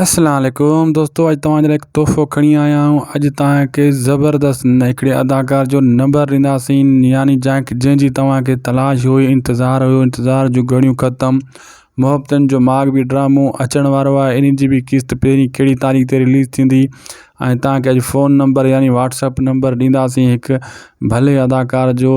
اسلام عليڪم دوستو اڄ توهان جي لاء هڪ تحفو کڻي آيا آهيون اڄ توهان کي زبردست هڪڙي اداڪار جو نمبر ڏينداسين يعني جنهن کي جنهن جي توهان کي تلاش هئي انتظار هيو انتظار جون گهڙيون ختم محبتن جو ماڳ به ڊرامو اچڻ وارو آهي ان جي به قسط پهرين ڪهڙي تاريخ تي رليز ٿيندي ۽ توهان کي اڄ فون نمبر يعني واتسپ نمبر ڏينداسين هڪ ڀلي اداڪار جو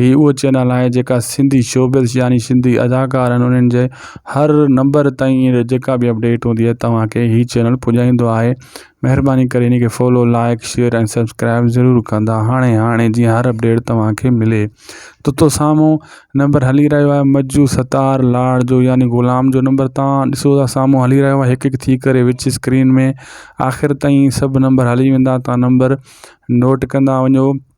هي اهو چينل آهي جيڪا سنڌي شوبز يعني سنڌي اداڪار آهن انهن جي هر نمبر تائين جيڪا بي اپڊيٽ هوندي آهي توهان کي هي چينل پڄائيندو آهي مهرباني ڪري هن کي فالو لائڪ شيئر ۽ سبسڪرائب ضرور ڪندا هاڻي هاڻي جي هر اپڊيٽ توهان کي ملي تو تو سامو نمبر هلي رهيو آهي مجو ستار لاڙ جو يعني غلام جو نمبر توهان ڏسو ٿا سامو هلي رهيو آهي هڪ هڪ ٿي ڪري وچ اسڪرين ۾ آخر تائين سڀ نمبر هلي ويندا توهان نمبر نوٽ ڪندا وڃو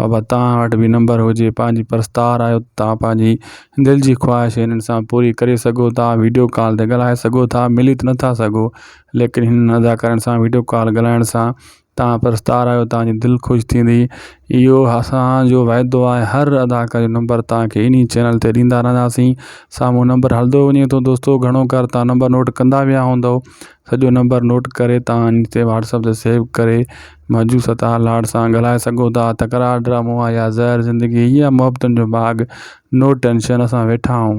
بابا توهان وٽ به نمبر هجي پنهنجي پرستار آهيو توهان پنهنجي دل جي خواهش هنن سان پوري ڪري سگهو ٿا ويڊيو ڪال تي ڳالهائي سگهو ٿا ملي ته نٿا سگهو ليڪن هنن اداڪارن سان ويڊيو ڪال ڳالهائڻ سان توهان پرستار آهيو توهان جي دل خوش ٿيندي اهو اسان جو وعدو آهي هر اداڪار جو نمبر توهان کي انهي چينل تي ڏيندا رهنداسين سامهون نمبر هلندو وڃي ٿو دوستو گهڻو ڪر توهان نمبر نوٽ ڪندا ويا هوندو سڄو نمبر نوٽ ڪري توهان ان تي واٽسپ تي سيو ڪري مجوس تان لاڙ سان ڳالهائي سگهو ٿا. تڪرار ڊرامو آ يا زهر زندگي هي آ محبتن جو باغ نو ٽينشن اسان ويٺا آهون.